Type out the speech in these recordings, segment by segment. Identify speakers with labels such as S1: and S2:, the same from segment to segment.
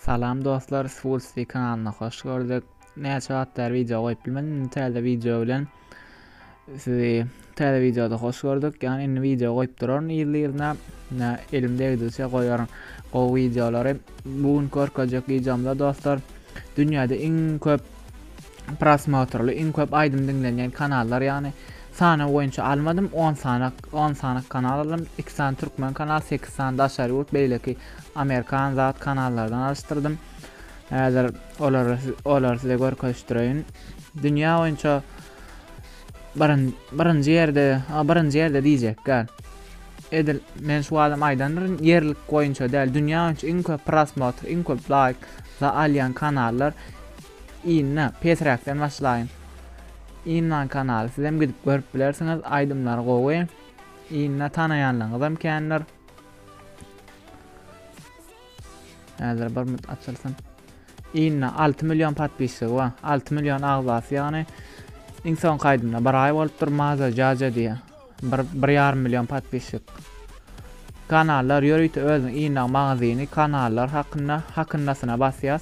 S1: Salam dostlar svulsti kanalyna hoş gördük näçe wagt bäri wideo goýup bilmedim indi täze wideo bilen sizi täze wideoda hoş gördük ýagny indi wideo goýup duraryn ýyly ýylyna nä elim degdigiçe goýaryn gowy wideolary bu gün görkezjek wideomda dostlar dünýäde iň köp prosmotrly iň köp aýdym diňlenýän kanallar ýagny sana boýunça almadym 10 sanak 10 sanak kanal aldym 2 sany türkmen kanal 8 sany daşary ýurt beýleki Amerikan zat kanallardan alyşdyrdym. Häzir olary olary size görkezişdireýin. Dünýä boýunça birin birinji ýerde, a birinji ýerde diýjek gel. Edil men şu adam aýdandyr ýerlik boýunça däl, dünýä boýunça iň köp prosmotr, iň köp laýk za alýan kanallar Inna Petrakdan başlaýyn. Inna kanaly sizem gidip görüp bilersiňiz, aýdymlary gowy. Inna tanaýanlaryňyzam kändir. Häzir bir mut açylsyn. Inna 6 million podpisçigi bar. 6 million agzasy ýagny iň soň kaydymda bir ay bolupdyr Maza Jaja diye. Bir, bir yarım milyon podpisçik. Kanallar ýörite özüň inna magazini kanallar hakynda hakyndasyna basýas.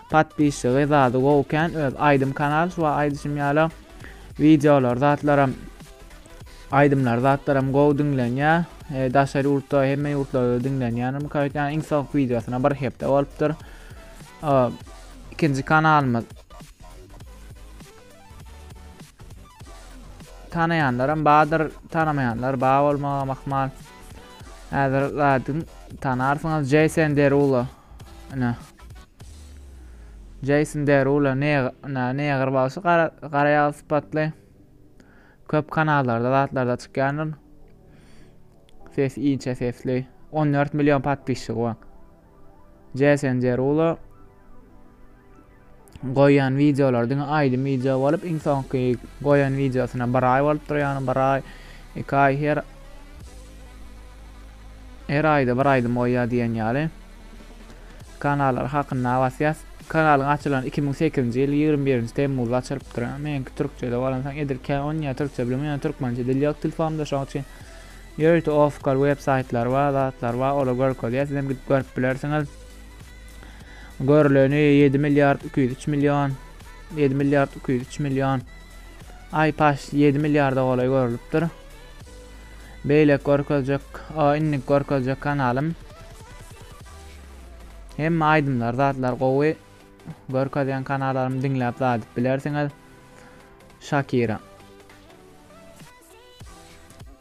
S1: Patpisçygy zady gowy kän öz aýdym kanal şuwa aýdyşym ýaly wideolar zatlaram aýdymlar zatlaram gowy diňlenýä e, daşary ýurtda hemme ýurtlarda diňlenýänim kaýtýan iň soňky wideosyna bir hepde bolupdyr ikinji kanalymyz Tanaýanlaram bardyr, tanamaýanlar bar bolmagam ahmal. Häzir zadyň tanarsyňyz Jason Derulo. Ine. Jason Derulo ne ne neger bagşy gara gara ýag sypatly. Köp kanallarda zatlarda çykýandyr. Ses inçe sesli. 14 million patpisçigi bar. Jason Derulo goýan wideolar diňe aýdym wideo bolup iň soňky goýan wideosyna bir aý bolupdyr ýagny bir aý iki aý her her aýda bir aýdym goýýar diýen ýaly kanallar hakynda basýas kanalyň açylan 2008-nji ýyl 21-nji temmuzda açylypdyr meňki türkçede bolansoň edil kän onýa türkçe bilmeýän türkmençe dil ýok telefonumda şoň üçin Ýörite Oskar web saýtlary bar, zatlar bar, olar görkezýär, sizem gidip görüp bilersiňiz. Görüleni 7 milliard 203 million, 7 milliard 203 million. Ay paş 7 milliarda golaý görülüpdir. Beýle görkezjek, o indik görkezjek kanalym. Hemme aýdymlar, zatlar gowy. Görkezýän kanallarymy diňläp zat edip bilersiňiz. Shakira.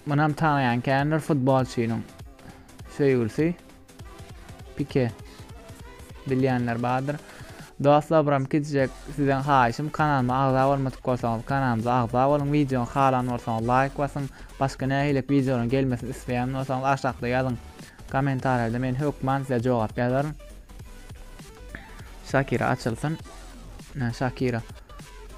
S1: Munam tanıyan kendir futbolçynyň söýgülsi Pike bilýänler bardyr. Dostlar buram kitjek sizden haýyşym kanalyma agza bolmadyk bolsaňyz kanalymyza agza boluň wideony halan bolsaňyz laýk basyň başga nähililik wideolaryň gelmesini isleýän bolsaňyz aşakda ýazyň kommentariýada men hökman size jogap ýazaryn Şakira açylsyn Şakira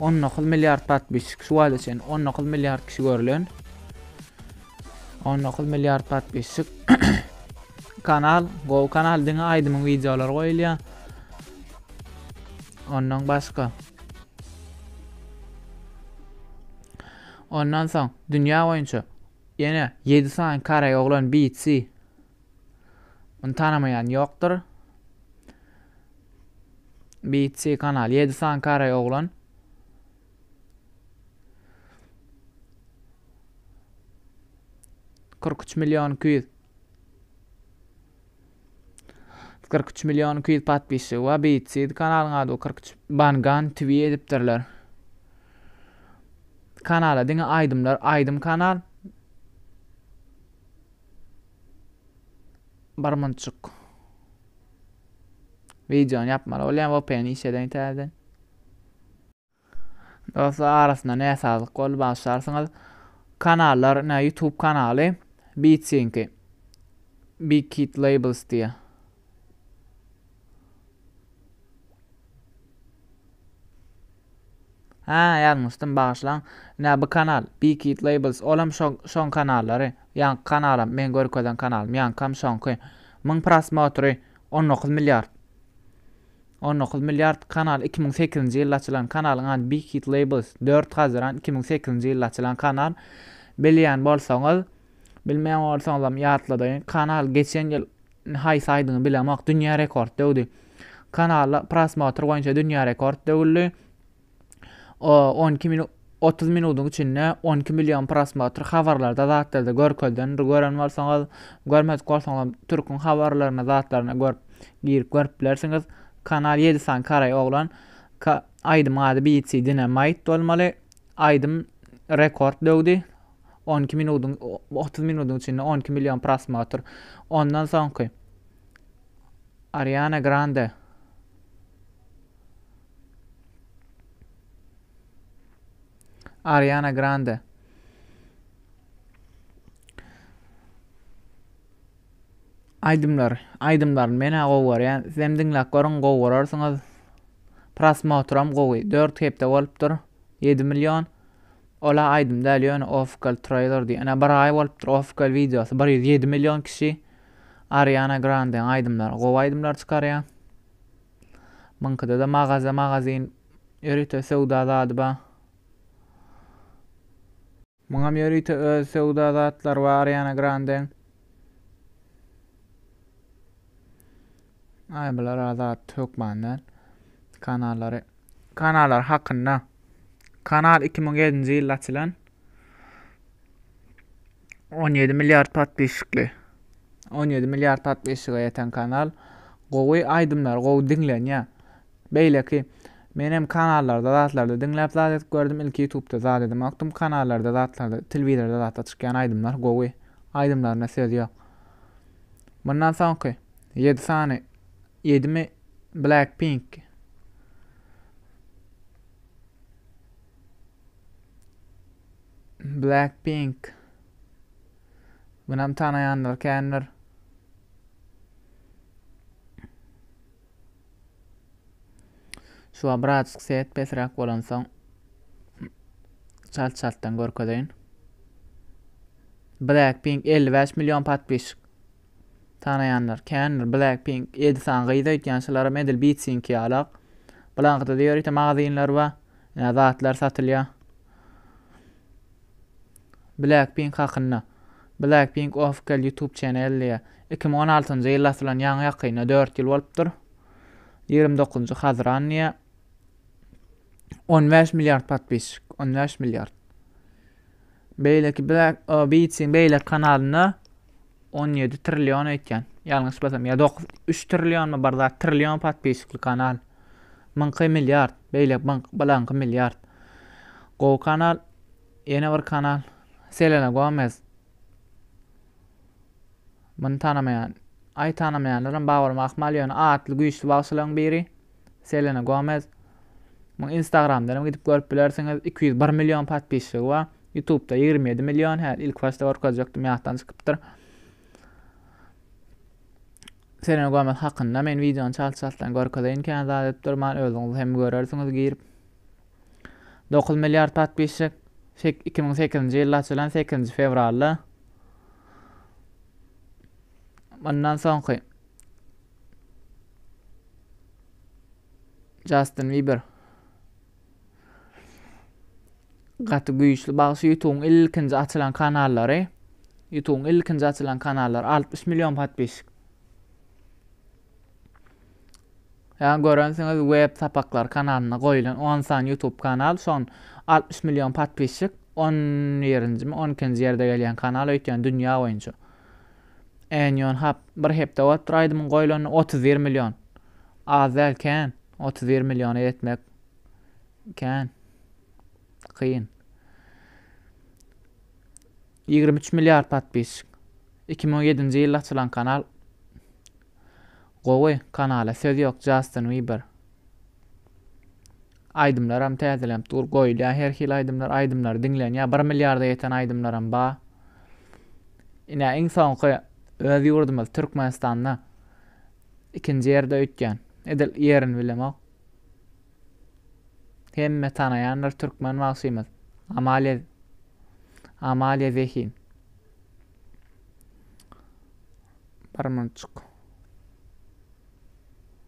S1: On dokuz milliard podpisçik şu wagta çenli on dokuz milliard kişi görlen on dokuz milliard podpisçik kanal go kanal diňe aýdymyň wideolary goýulýar ondan başga ondan soň dünýä boýunça ýene ýedi sany koreý oglan BC Muny tanamaýan ýokdur. BC kanal. Ýedi sany karaý oglan. Kyrk üç milýon iki ýüz. Kyrk üç milýon iki ýüz patpisçigi bar. BC kanalyň ady bu. Kyrk üç Bangan TV edipdirler. Kanala diňe aýdymlar, aýdym kanal. Barmançuk. Videony yapmaly bolýan VPN iş eden täzeden. Dostlar arasynda näsazlyk boldy başlarsyňyz. Kanallar, ne YouTube kanaly Beatsinki. Big Kid Labels diýe. Hä ýazmyşdym bagyşlaň. Nä bu kanal? Bkid labels olam şo şoň kanallary. Ýaňky kanalam meň görkezen kanalym ýaňkam şoňky. Myň prosmotry on dokuz milliard. On dokuz milliard kanal iki müň sekizinji ýylda açylan kanalyň ady Bkid labels dört hazyran iki müň sekizinji ýylda açylan kanal bilýän bolsaňyz bilmeýän bolsaňyzam ýatladaýyň kanal geçen ýyl Haýsy aýdymy bilemok dünýä rekord döwdi. Kanalda prosmotr boýunça dünýä rekord döwüldi. O on iki minut otuz minutyň içinde on iki million prosmotr habarlarda zatlarda görkezilendir gören bolsaňyz görmedik bolsaňyzam türküň habarlaryna zatlaryna görüp girip görüp bilersiňiz kanal ýedi san karaý oglan ka aýdymyň ady BC Dynamite bolmaly aýdym rekord döwdi on iki minudyň otuz minudyň içinde on iki million prosmotr ondan soňky ariana grande ariana grande aýdymlar aýdymlaryny men-ä gowy görýän sizem diňläp görüň gowy görersiňiz prosmotram gowy dört hepde bolupdyr ýedi million Ola aýdym däl ýöne ofkal traýlerdi ene bir aý bolupdyr ofkal wideosy bir ýüz ýedi million kişi Ariana Grandeň aýdymlary gowy aýdymlar çykarýa Muňkyda-da magaza magazin ýörite söwda zady ba. Muňam ýörite öz söwda zatlary ba Ariana Grandeň. Aý bular-a zat hökman däl. Kanallary kanallar hakynda. Kanal iki müň ýedinji ýylda açylan. On ýedi milliard podpisçikli. On ýedi milliard podpisçige ýeten kanal. Gowy aýdymlar, gowy diňlenýär. Beýleki men hem kanallarda zatlarda diňläp zat edip gördüm. Ilki YouTube'da zat edemokdym. Kanallarda zatlarda, telewizorda zatda çykýan aýdymlar gowy. Aýdymlaryna söz ýok. Mundan soňky ýedi sany ýedimi Blackpink Blackpink. Munam tanaýanlar kändir. Şu abraçyk set pesräk bolansoň çalt çaltdan görkezeýin. Blackpink 55 million patpişik. Tanaýanlar kändir, Blackpink, Edison gyz öýtýän şularam edil Beatsink ýalak. Bulaňkyda-da ýörite magazynlar bar, ýa zatlar satylýar. Blackpink hakynda. Blackpink ofkel YouTube channel diýýär. Iki müň on altynjy ýylda asylan ýaňy ýakynda dört ýyl bolupdyr. Ýigrimi dokuzynjy hazyran diýýär. On bäş milliard podpisçik, on bäş milliard. Beýleki Black Beats-iň beýleki kanalynda 17 trillion öýtýän. Ýalňyş bolsam ýa 9 3 trillionmy bir zat trillion podpisçikli kanal. Myňky milliard, beýle balaňky milliard. Gowy kanal. Ýene bir kanal Selena Gomez. Muny tanamaýan. Aý tanamaýanlaram bar bolmak ahmal ýöne atly güýçli bagşylaryň biri. Selena Gomez. Muny Instagramdan hem gidip görüp bilersiňiz. 201 million podpisçigi bar. YouTube'da 27 million. Hä, ilk başda görkezjekdim, ýatdan çykypdyr. Selena Gomez hakynda men wideony çalt-çaltdan görkezeýin kän zat edip durman, özüňiz hem görersiňiz girip. 9 milliard podpisçik. 2008-nji ýylda açylan 8-nji fewralda. Mundan soňky Jastin Biber gaty güýçli bagşy ýutubyň ilkinji açylan kanallary ýutubyň ilkinji açylan kanallary altmyş million podpisik ýa görensiňiz web sapaklar kanalynda goýulan on sany ýutub kanal şon altmyş million podpisik on birinjimi on ikinji ýerde gelýän kanal öýtýän dünýä boýunça Enion hap bir hepde bolupdyr aýdymyň goýlanyna otuz bir million az däl kän otuz bir milliona ýetmek kän kyn ýigrimi üç milliard podpisçik iki müň ýedinji ýylda açylan kanal gowy kanala söz ýok Justin Bieber Aýdymlaram täzeläp dur goýulýa her hili aýdymlar aýdymlary diňlenýa bir milliarda ýeten aýdymlaram ba ine iň soňky öz ýurdumyz Türkmenistanda ikinji ýerde öýtýän edil ýerini bilemok hemme tanaýandyr türkmen bagşymyz Amalia Amalia Zehin bir munçuk.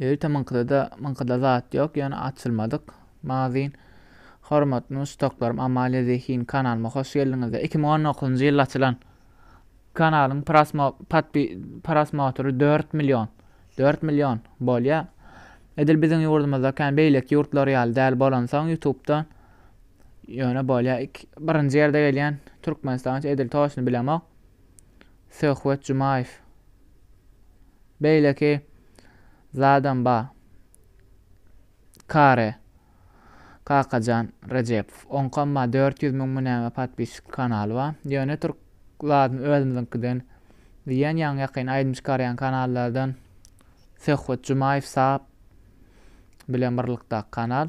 S1: Ýörite myňkydada myňkyda zat ýok, ýöne açylmadyk magazyn. Hormatly muşdaklarym Amalia Zehin kanalyma hoş geldiňizler. 2019 njy ýylda açylan kanalyň prasmo patpi prasmotry dört million. Dört million bolýa. Edil biziň ýurdumyzda kän beýleki ýurtlar ýaly däl bolansoň ýutubdan ýöne bolýa. Birinji ýerde gelýän Türkmenistan edil toçny bilemok. Söhbet Jumaýew. Beýleki zadam ba. Kare. Kakajan Rejepow. Oňkam ba dört ýüz müň mi näme podpisçikli kanaly ba. Ýöne türk zadyny özümiziňkiden diýýän ýaňy ýakyn aýdym çykarýan kanallardan Söhbet Jumaýew sap bilen birlikdaki kanal.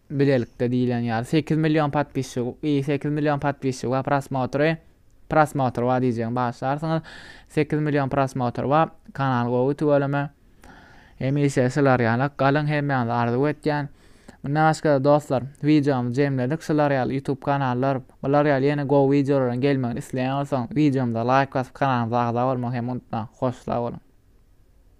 S1: Bilelikde diýilen ýaly sekiz million podpisçik i sekiz million podpisçik we prosmotry prosmotr bar diýjegim bagyşlarsyňyz sekiz million prosmotr bar kanal gowy tüweleme hemişe şular ýalak galyň hemmäňize arzuw etýän mundan başgada dostlar wideomyzy jemledik şular ýaly youtube kanallar bular ýaly ýene gowy wideolaryň gelmegini isleýän bolsaň wideomyza laýk basyp kanalymyza agza bolmagy hem unutmaň hoşsag boluň